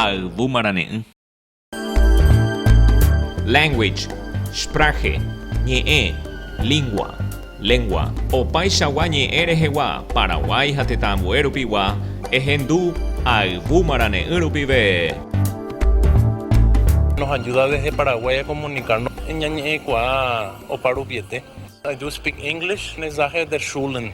Ayvu marane'ỹ. Language, Sprache, ñe'ẽ, lingua, lengua, opaichagua ñe'ẽ rehegua Paraguái ha tetã ambue rupigua ehendu ayvu marane'ỹ rupive. Nos ayuda desde Paraguay a comunicarnos ñañe'ẽkuaa oparuviete. I do speak English, mensaje de Schulen.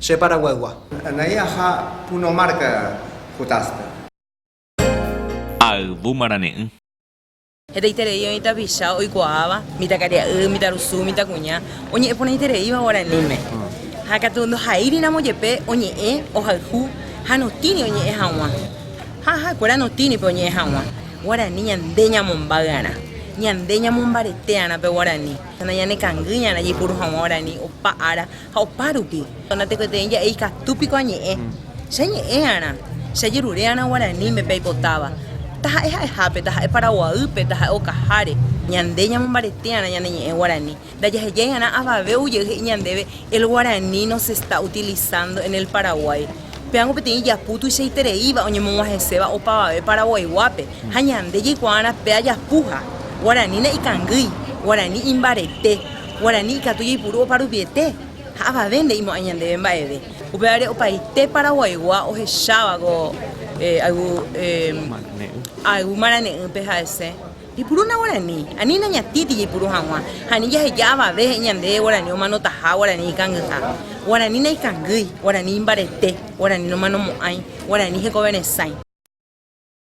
Che Paraguaygua. Anai aha Puno marca Jutaspe. Ha ayvu marane'ỹ. Hetaiterei oĩ tapicha oikuaáva, mitãkaria'y, mitãrusu, mitãkuña, oñe'ẽporãitereíva guaraníme, ha katu ndohaíriramo jepe oñe'ẽ, ohayhu ha notĩri oñe'ẽ hag̃ua, ha ha'ekuéra notĩripe oñe'ẽ hag̃ua, guarani ñande ñamombaýarã, ñande ñamombaretearã pe guarani, ha nañanekangýiarã jaipuru hag̃ua guarani opa ára Ha opárupi, natekotevẽi ja'e ikatu piko añe'ẽ, che añe'ẽ'arã, che ajeruré'arã guaraníme pe aipotáva, taha'e ha'ehápe, taha'e paraguaýpe, taha'e okaháre. Ñande ñamombareté'arã ñane ñe'ẽ guarani, ndajahejai'arã avave ou jey he'i ñandéve el guaraní no se está utilizando en el Paraguay. Péango peteĩ japu tuichaitereíva oñemog̃uahẽséva opavave Paraguayguápe, ha ñande jaikuaa'arã pe ajapuha, guaranína ikangýi, guarani imbarete. Guarani ikatu jaipuru oparuviete ha avave nde'imo'ãi ñandéve mba'eve. Upévare opaite paraguaigua ohecháva ko ayvu ayvu marane'ỹpe ha'ese jaipurúna guarani, ani nañatĩti jaipuru hag̃ua ha ani jaheja avave he'i ñandéve guarani omanotaha, guarani ikangyha, guarani naikangýi, guarani imbarete, guarani nomanomo'ãi, guarani hekoveresãi.